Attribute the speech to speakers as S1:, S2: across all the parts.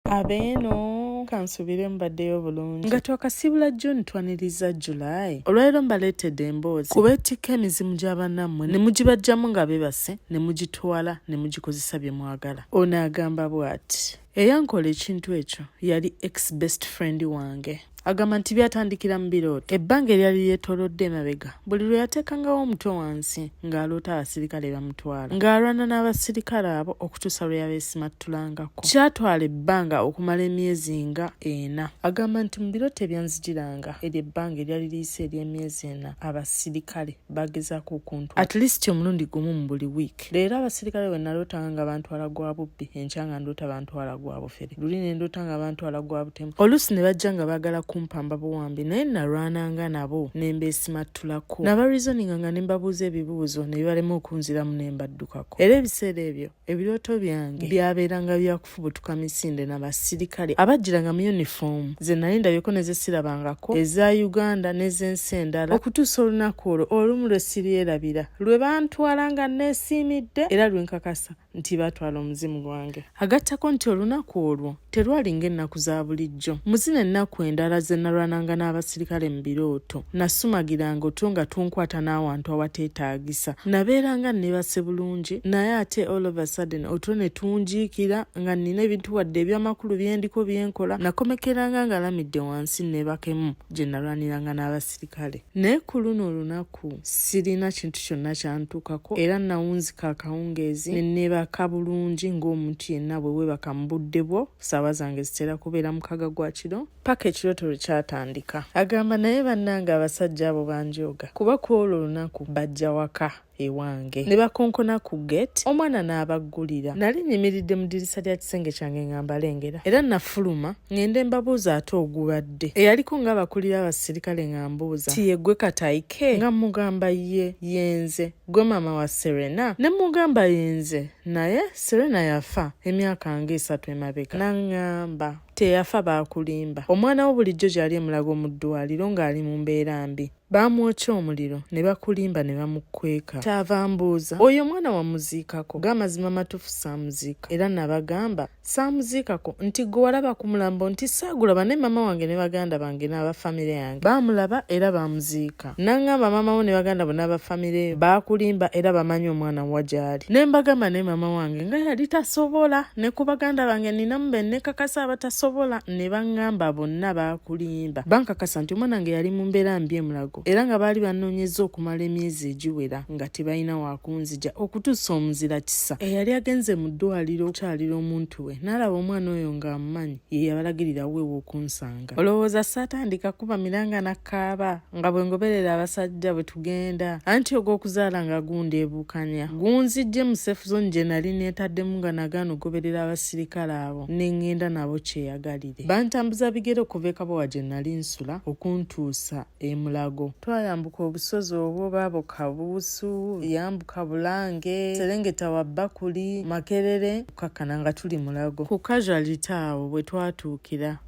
S1: abeeno kansubire mbaddeyo obulungi nga twakasiibula june twaniriza july olwaliro mbaleetedde emboozi kuba etikka emizimu gy'abanammwe ne mugibajjamu nga bebase ne mugitwala ne mugikozesa bye mwagala ono agamba bw'ati eyankola ekintu ekyo yali ex best friend wange agamba nti byatandikira mu birooto ebbanga eryali lyetoolodde emabega buli lwe yateekangawo omutwe wansi ng'aloota abasirikale bamutwala ng'alwana n'abasirikale abo okutuusa lwe yabeesimattulangako kyatwala ebbanga okumala emyezi nga ena agamba nti mu birooto ebyanzijiranga eryo ebbanga eryali liyise ery'emyezi ena abasirikale bagezaako okuntu at least omulundi gumu mu buli wiiki leero abasirikale bwe nalootanga nga bantwala gwa bubbi enkya nga ndoota bantwala gwa bufere luli ne ndoota nga bantwala gwa butemu oluusi ne bajja nga baagala kumpamba buwambi naye nalwananga nabo ne mbeesimattulako nabarizoninga nga ne mbabuuza ebibuuzo ne bibalema okunziramu ne mbaddukako era ebiseera ebyo ebirooto byange byabeeranga bya kufubutuka misinde na basirikale abajjiranga mu yunifoomu ze nali ndabyeko ne zesirabangako eza uganda n'ez'ensi endala okutuusa olunaku olwo olumu lwe siryerabira lwe bantwala nga neesiimidde era lwe nkakasa nti baatwala omuzimu gwange agattako nti olunaku olwo terwalinga ennaku za bulijjo bulijjo. Mu zino ennaku endala ze nalwananga n'abasirikale mu birooto, nasumagiranga otwo nga tunkwata n'awantu awateetaagisa. Nabeeranga nneebase bulungi naye ate all of a sudden otwo ne tunjiikira nga nnina ebintu wadde eby'amakulu bye ndiko bye nkola. Nakomekeranga ngalamidde wansi nneebakemu gye nalwaniranga n'abasirikale. Naye ku luno olunaku sirina kintu kyonna kyantuukako era nawunzika akawungeezi ne nneebaka bulungi ng'omuntu yenna bwe weebaka mu budde bwo. saawa zange zitera kubeera mukaga gwa kiro paka ekirooto lwe kyatandika agamba naye bannange abasajja abo banjooga kuba ku olwo olunaku bajja waka ewange ne bakonkona ku gate omwana n'abaggulira nali nyimiridde mu dirisa lya kisenge kyange nga mbalengera era nafuluma ng'ende mbabuuza ate ogubadde eyaliko ng'abakulira abasirikale nga mbuuza ti yegwe katayike nga mugamba ye yenze gwe maama wa serena ne mugamba yenze naye serena yafa emyaka nga esatu emabega naŋŋamba teyafa baakulimba omwana wo bulijjo gyali emulago mu ddwaliro ng'ali mu mbeera mbi baamwokya omuliro ne bakulimba ne bamukweka kyava mbuuza oyo omwana wamuziikako g'amazima matuufu saamuziika era nabagamba saamuziikako nti gwe walaba ku mulambo nti saagulaba ne maama wange ne baganda bange n'aba famire yange baamulaba era baamuziika n'aŋŋamba maama wo ne baganda bo n'aba famire baakulimba era bamanyi omwana wa gy'ali ne mbagamba ne maama wange nga yali tasobola ne ku baganda bange ninamu be nekakasa abatasobola ne baŋŋamba bonna baakulimba bankakasa nti omwana wange yali mu mbeera mbi emulago Mulago era nga baali banoonyezza okumala emyezi egiwera nga tebalina wakunzija okutuusa omuzira kisa eyali agenze mu ddwaliro okukyalira omuntu we n'alaba omwana oyo ng'amumanyi ye yabalagirira weewa okunsanga olowooza saatandika kuba miranga nakkaaba nga bwe ngoberera abasajja bwe tugenda anti ogw'okuzaala nga gundeebuukanya gunzijje mu safe zone gye nali neetaddemu nga nagaana okugoberera abasirikale abo ne ngenda nabo kyeyagalira Bantambuza bigere okuva e Kabowa gye nali nsula okuntuusa e Mulago. Twayambuka obusozi obwo baaboka Buusu, yambuka Bulange, serengeta wa Bakuli, Makerere okukakkana nga tuli Mulago. Ku casuality awo bwe twatuukira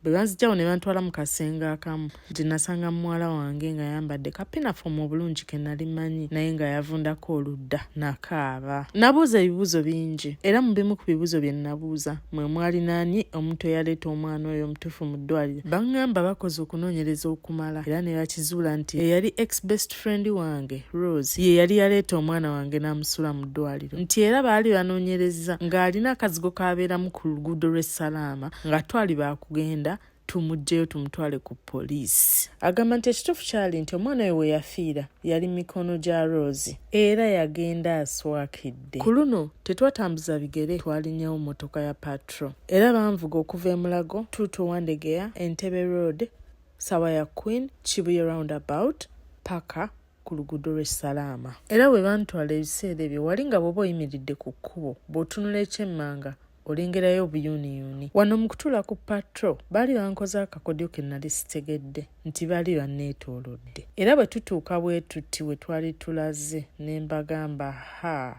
S1: be banzijawo ne bantwala mu kasenge akamu. nti nasanga muwala wange nga yambadde kapinafomu obulungi ke nali manyi naye nga yavundako oludda nakaaba nabuuza ebibuuzo bingi era mu bimu ku bibuuzo bye nabuuza mwe mwali naani omuntu eyaleeta omwana oyo omutuufu mu ddwaliro baŋŋamba bakoze okunoonyereza okumala era ne bakizuula nti eyali ex best friend wange rose ye yali yaleeta omwana wange n'amusula mu ddwaliro nti era baali banoonyereza ng'alina akazigo k'abeeramu ku luguudo lw'e salaama nga twali baakugenda tumuggyeyo tumutwale ku poliisi agamba nti ekituufu kyali nti omwana we weyafiira yali mikono gya rose era yagenda aswakidde ku luno tetwatambuza bigere twalinyawo mmotoka ya patro era banvuga okuva emulago tuuto wandegeya entebe road sawa ya queen kibuye round about paka ku luguudo lw'e salaama era bwe bantwala ebiseera ebyo wali nga bw'oba oyimiridde ku kkubo bw'otunula ekyemmanga olengerayo obuyuuniyuuni wano mu kutuula ku patro baali bankoze akakodyo ke nali sitegedde nti baali banneetoolodde era bwe tutuuka bwe tutti we twali tulaze ne mbagamba haa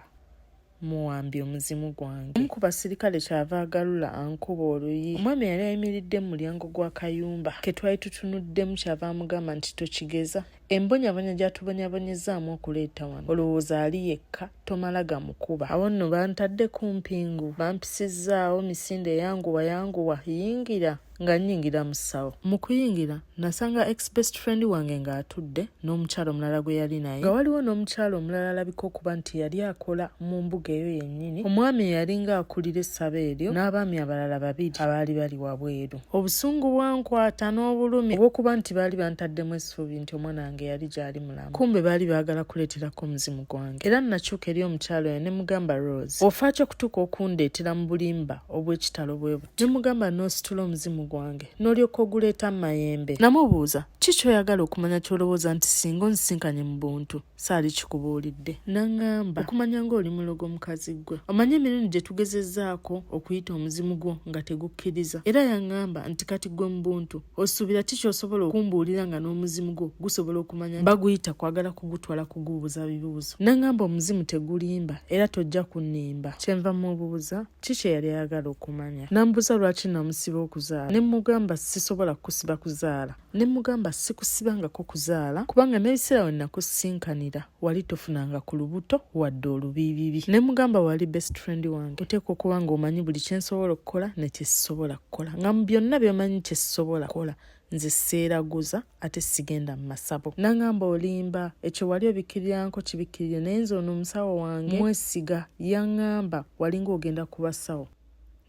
S1: muwambye omuzimu gwange omu ku basirikale kyava agalula ankuba oluyi omwami yali ayimiridde mu mulyango gw'akayumba ke twali tutunuddemu kyava amugamba nti tokigeza embonyabonya gyatubonyabonyezaamu okuleeta wano olowooza ali yekka tomala gamukuba awo nno bantadde ku mpingu bampisizzaawo misinde yanguwa yanguwa yingira nga nnyingira mu ssawo mu kuyingira nasanga ex best friend wange ng'atudde n'omukyalo omulala gwe yali naye nga waliwo n'omukyalo omulala alabika okuba nti yali akola mu mbuga eyo yennyini omwami eyalinga akulira essabo eryo n'abaami abalala babiri abaali bali wabweru obusungu bwankwata n'obulumi obwokuba nti baali bantaddemu essuubi nti omwana wange yali gyali mulamu kumbe baali baagala kuleeterako omuzimu gwange era nnakyuka eri omukyalo oyo ne mugamba rose ofaaki okutuuka okundeetera mu bulimba obw'ekitalo bwe buti ne mugamba n'ositula omuzimu gwange n'olyoka oguleeta mu mayembe namubuuza ki kyoyagala okumanya ky'olowooza nti singa onzisinkanye mu buntu saali kikubuulidde naŋŋamba okumanya ng'oli mulogo mukazi ggwe omanyi emirundi gye tugezezzaako okuyita omuzimu gwo nga tegukkiriza era yaŋŋamba nti kati ggwe mu buntu osuubira ki kyosobola okumbuulira nga n'omuzimu gwo gusobola okumanya baguyita kwagala kugutwala kuguubuza bibuuzo naŋŋamba omuzimu tegulimba era tojja kunnimba kyenva mubuuza ki kye yali ayagala okumanya nambuuza lwaki namusiba okuzaala ne mugamba sisobola kukusiba kuzaala ne mugamba sikusibangako kuzaala kubanga n'ebiseera we nakusinkanira wali tofunanga ku lubuto wadde olubiibibi ne mugamba wali best friend wange oteekwa okuba nga omanyi buli kye nsobola okukola ne kye sisobola kukola nga mu byonna byomanyi kye sisobola kukola nze seeraguza ate sigenda mu masabo nangamba olimba ekyo wali obikkiriranko kibikkirire naye nze ono omusawo wange mwesiga yangamba walinga ogenda kubasawo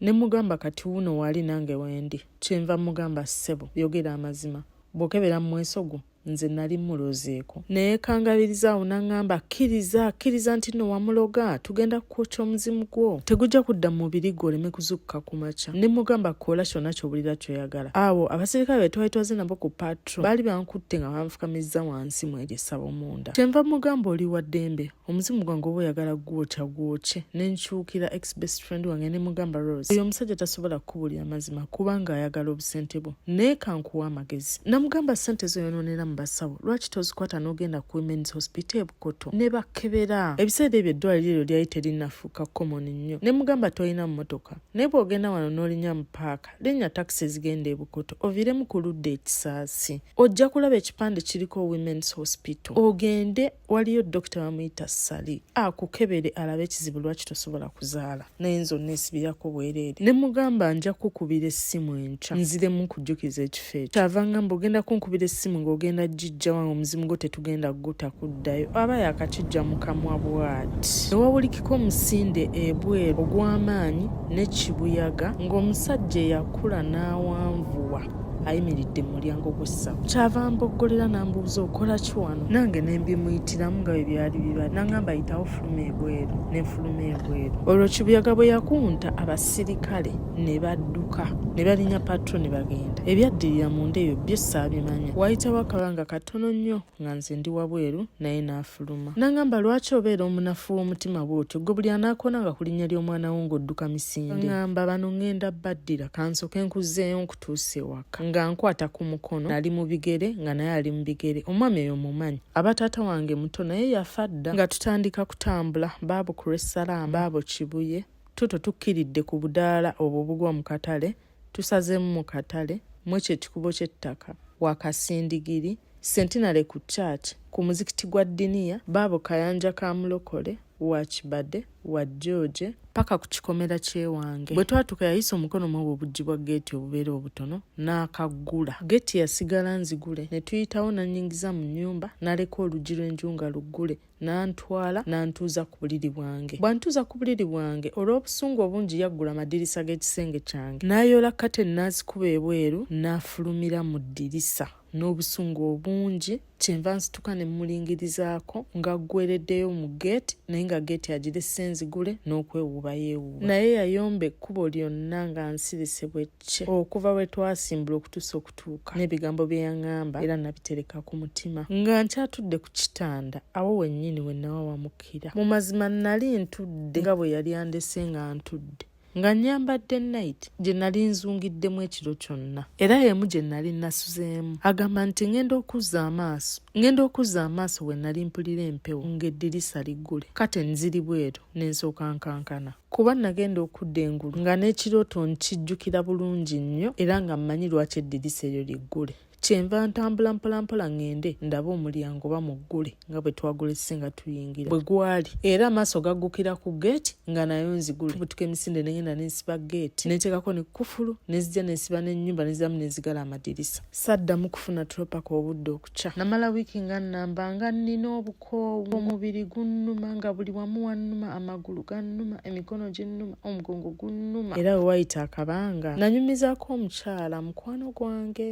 S1: ne mugamba kati wuno wali nange wendi kyenva mugamba ssebo yogera amazima bwokebera mu mweso gwo nze nali mulozeeko naye kangabiriza awo naŋŋamba kkiriza kkiriza nti no wamuloga tugenda kukwokya omuzimu gwo tegujja kudda mu mubiri gwo oleme kuzukka ku makya ne mugamba koola kyonna kyobulira kyoyagala awo abasirikale be twali twaze nabo ku patro baali bankutte nga banfukamizza wansi mu eryo essabo munda kyenva mugamba oli wa ddembe omuzimu gwange oba oyagala gwokya gwokye nenkyukira ex best friend wange nemugamba rose oyo omusajja tasobola kukubulira mazima kubanga ayagala obusente bwo naye kankuwa amagezi namugamba sente zoyononera mu basawo lwaki tozikwata nogenda ku womens hospital ebukoto nebakebera ebiseera ebyo eddwaliro eryo lyali terinafuuka common nnyo nemugamba tolina mumotoka naye bwogenda wano nolinya mu paaka linnya takisi ezigenda ebukoto oviremu ku ludda ekisaasi ojja kulaba ekipande kiriko womens hospital ogende waliyo dokita bamuyita sali akukebere alabe ekizibu lwaki tosobola kuzaala naye nze onesibirako bwereere ne mugamba nja kukubira essimu enkya nziremu nkujjukiza ekifo ekyo kyava ngamba ogenda kunkubira essimu ng'ogenda jijja wange omuzimu gwo tetugenda kuguta kuddayo aba yakakijja mu kamwa bwati newawulikika omusinde ebweru ogw'amaanyi n'ekibuyaga ng'omusajja eyakula n'awanvuwa ayimiridde mu mulyango gw'essabo kyava mboggolera n'ambuuza okola ki wano nange ne mbimuyitiramu nga bwe byali biba nangamba yitawo fuluma ebweru ne nfuluma ebweru olwo kibuyaga bwe yakunta abasirikale ne badduka ne balinya patro ne bagenda ebyaddirira mu nda eyo byo saabimanya waayitawo akabanga katono nnyo nga nze ndi wabweru naye n'afuluma nangamba lwaki obeera omunafu w'omutima bw'otyo gwe buli anaakona nga ku linnya ly'omwana wo ng'odduka misinde ngamba bano ngenda baddira kansoke nkuzeeyo nkutuusa ewaka nga nkwata ku mukono nali mu bigere nga naye ali mu bigere omwami eyo mumanyi aba taata wange muto naye yafa dda nga tutandika kutambula baabo ku lw'essalaama baabo kibuye tuto tukkiridde ku budaala obwo obugwa mu katale Tusazeemu mu katale mwekyo ekikubo ky'ettaka wakasindigiri sentinale ku church ku muzikiti gwa diniya baabo kayanja ka mulokole wakibade wa george paka ku kikomera kyewange bwe twatuka yayisa omukono mwobwo obuggi bwa geeti obubeera obutono n'akaggula geeti yasigala nzigule ne tuyitawo nanyingiza mu nnyumba naleka oluggi lw'enju nga luggule n'antwala n'antuuza ku buliri bwange bw'antuuza ku buliri bwange olw'obusungu obungi yaggula amadirisa g'ekisenge kyange n'ayoola kate n'azikuba ebweru n'afulumira mu ddirisa n'obusungu obungi kyenva nsituka ne mmulingirizaako ng'aggwereddeyo mu geeti naye nga geeti agirese nzigule n'okwewuuba yeewuuba naye yayomba ekkubo lyonna nga nsirise bwe kye okuva we twasimbula okutuusa okutuuka n'ebigambo bye yaŋŋamba era nabitereka ku mutima nga nkyatudde ku kitanda awo wennyini we nawawamukira mu mazima nnali ntudde nga bwe yali andese nga ntudde nga nyambadde nayiti gye nali nzungiddemu ekiro kyonna era y'emu gye nali nasuzeemu agamba nti ŋenda okuzza amaaso ŋenda okuzza amaaso we nali mpulira empewo ng'eddirisa liggule kate nziri bweru ne nsooka nkankana kuba nagenda okudda engulu nga n'ekirooto nkijjukira bulungi nnyo era nga mmanyi lwaki eddirisa eryo liggule kyenva ntambula mpolampola ŋŋende ndaba omulyango oba muggule nga bwe twagulese nga tuyingira bwe gwali era amaaso gaggukira ku geeti nga nayo nzigule butuka emisinde ne ŋenda ne nsiba geeti ne nteekako ne kkufulu ne zijja ne nsiba n'ennyumba ne ziramu ne zigala amadirisa saddamu kufuna tulopaka obudde kukya namala wiiki nga nnamba nga nnina obukoowu omubiri gunnuma nga buli wamu wannuma amagulu gannuma emikono ginnuma omugongo gunnuma era we wayita akabanga nanyumizaako omukyala mukwano gwange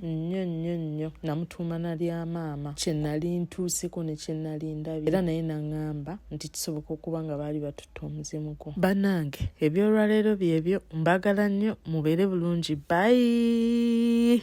S1: nnyo nnyo nnyo namutuuma na lya maama kye nali ntuuseko ne kye nali ndabye era naye naŋŋamba nti kisoboka okuba nga baali batutte omuzimu gwo bannange ebyolwaleero byebyo mbagala nnyo mubeere bulungi bayi